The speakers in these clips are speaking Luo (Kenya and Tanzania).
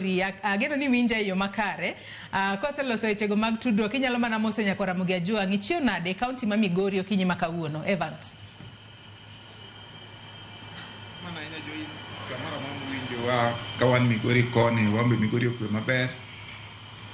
Ri, a- ageno ni winja e yo makare. Ah, Koseloso wechego mag tudruok, inyalo mana moso nyako Ramogi Ajwang'. Ichiew nade e kaunti ma Migori okinyi ma kawuono? Evans. Mana ahinya Joyce, kamoro amora mwinjowa ka wan Migori koni, wan be Migori okwe maber.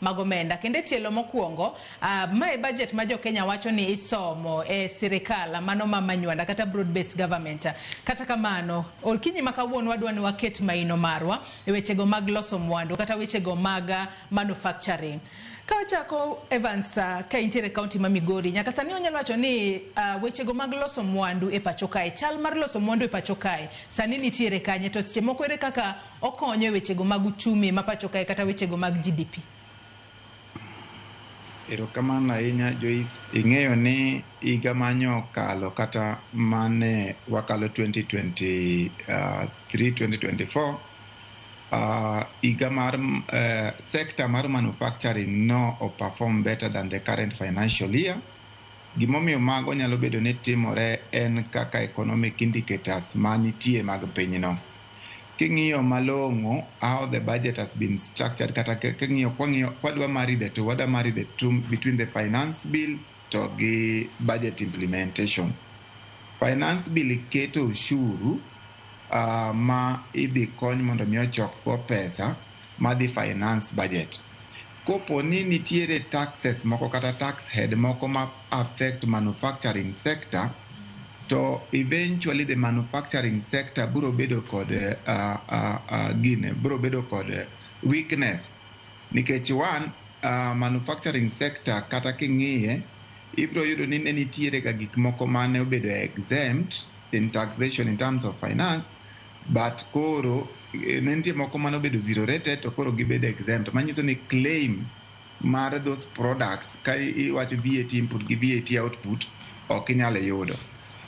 mag omenda kendo e tielo mokuongo uh, ma e budget ma jokenya wacho ni isomo e sirikal mano ma manywanda kata broad based government kata kamano olkinyi ma kawuono wadwa ni waket maino marwa e wechego mag loso mwandu kata wechego mag uh, manufacturing ka wachako Evans uh, ka intiere kaunti ma Migori nyaka sani onyalo wacho ni uh, wechego mag loso mwandu e pacho kae chal mar loso mwandu e pacho kae sani nitiere kanye to seche moko ere kaka Okonyo e wechego mag uchumi ma pacho kae kata wechego mag GDP. Erokamano ahinya Joyce. Ing'eyo ni higa manye okalo kata mane wakalo 2023, 2024, ah, higa mar eh, sector mar manufacturing no o perform better than the current financial year. Gimomiyo mago nyalo bedo ni timore en kaka economic indicators manitie mag pinyno. King'iyo malong'o how the budget has been structured kata king'iyo kwang'iyo kwadwa marry the two wadwa marry the two between the finance bill to gi budget implementation. Finance bill keto ushuru uh, ma idhi kony mondo mi ochokgo pesa madhi finance budget. Kopo ni nitiere taxes moko kata tax head moko ma affect manufacturing sector, to eventually the manufacturing sector biro bedo kod uh, uh, uh, gine biro bedo kod weakness nikech one uh, manufacturing sector kata king'iye ibiro yudo ni ne nitiere ga gik moko mane obedo exempt in taxation in terms of finance but koro eh, ne nitie moko mane obedo zero rated to koro gibedo exempt manyiso ni claim mar those products ka i- iwacho VAT input gi VAT output ok inyal yudo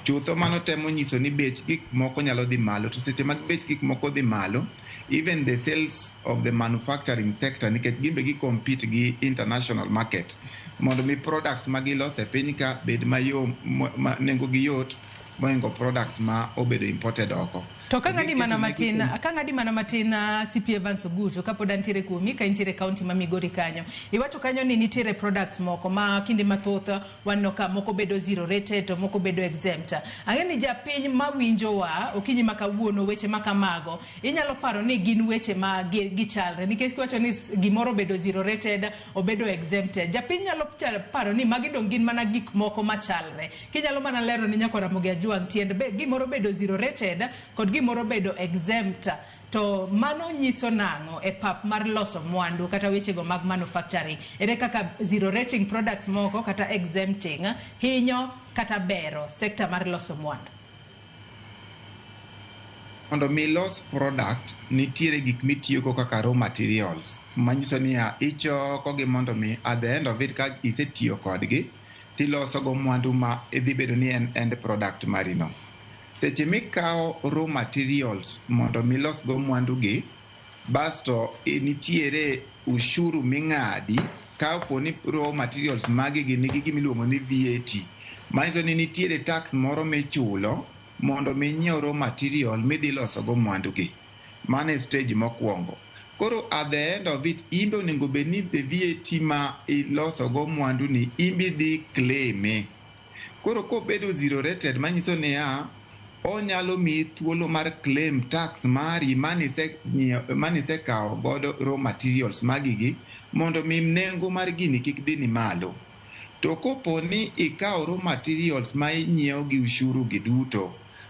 chutho mano temo nyiso ni bech gik moko nyalo dhi malo to seche mag bech gik moko dhi malo even the sales of the manufacturing sector nikech gimbe gi compete gi international market mondo mi products ma giloso e piny ka bed mayom ma- ma nengogi yot mohingo products ma obedo imported oko. To ka ng'adi mana matin, ka ng'adi mana matin ah, CP Evans Ogutu kapod antiere kuomi ka intiere kaunti ma Migori kanyo. Iwacho kanyo ni nitiere products moko ma kinde mathoth ah, waneno ka moko bedo zero rated to moko bedo exempt. Ang'e ni japiny ma winjowa okinyi ma kawuono weche ma kamago inyalo paro ni gin weche ma gi- gichalre nikech kiwacho ni s- gimoro obedo zero rated obedo exempted. Japiny nyalo cha- paro ni magi dong' gin mana gik moko machalre. Kinyalo mana lero ne nyako Ramogi Ajwang' tiend be gimoro bedo zero rated kod gimoro bedo exempt to mano nyiso nang'o e pap mar loso mwandu kata wechego mag manufacturing? Ere kaka zero rating products moko kata exempting hinyo kata bero sector mar loso mwandu? Mondo mi los product nitiere gik mitiyogo kaka raw materials manyiso niya ichoko gi mondo mi at the end of it ka isetiyo kodgi tiloso go mwandu ma idhi bedo ni en end product mari no. Seche mikawo raw materials mondo milos go mwandu gi, basto nitiere ushuru ming'adi ka po ni raw materials magi gi nigi gimiluongo ni VAT. Manyiso ni nitiere tax moro michulo mondo mi inyiew raw material midhi loso go mwandu gi. Mano e stage mokwongo. Koro at the end of it, imbe onego bed ni the VAT ma iloso go mwandu ni imbi dhi claime. Koro kobedo zero rated manyiso niya, onyalo miyi thuolo mar claim tax mari manise kawo godo raw materials magigi mondo mi nengo mar gini kik dhi ni malo. To kopo ni ikawo raw materials ma inyiewo gi ushuru gi duto,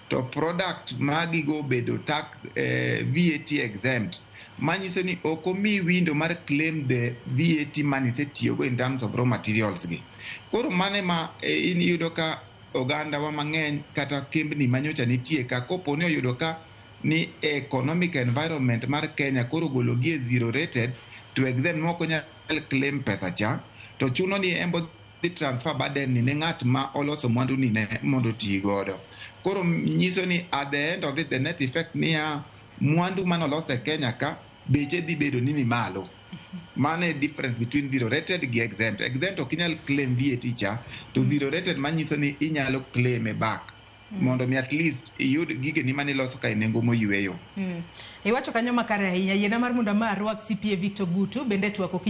to product magigo obedo tax eh, VAT exempt manyiso ni ok omi window mar claim the VAT money isetiyogo in terms of raw materials gi koro mane ma eh, in yudo ka ogandawa mang'eny kata kembni manyocha nitie ka kopo ni oyudo ka ni economic environment mar Kenya koro gologi e zero rated to exempt moko nyal claim pesa cha to chuno ni embo dhi transfer burden ni ne ng'at ma oloso mwandu ni ne mondo oti godo. Koro nyiso ni at the end of it the net effect niya mwandu mane olos e Kenya ka beche dhi bedo ni ni malo. Mano e difference between zero rated gi exempt. Exempt ok inyal claim VAT cha to zero rated manyiso ni inyalo claim e back mondo mi at least iyud gigeni mane iloso ka e nengo moyweyo. Iwacho kanyo makare ahinya. Yiena mar mondo ama arwak CPA Victor Gutu bende e twak ok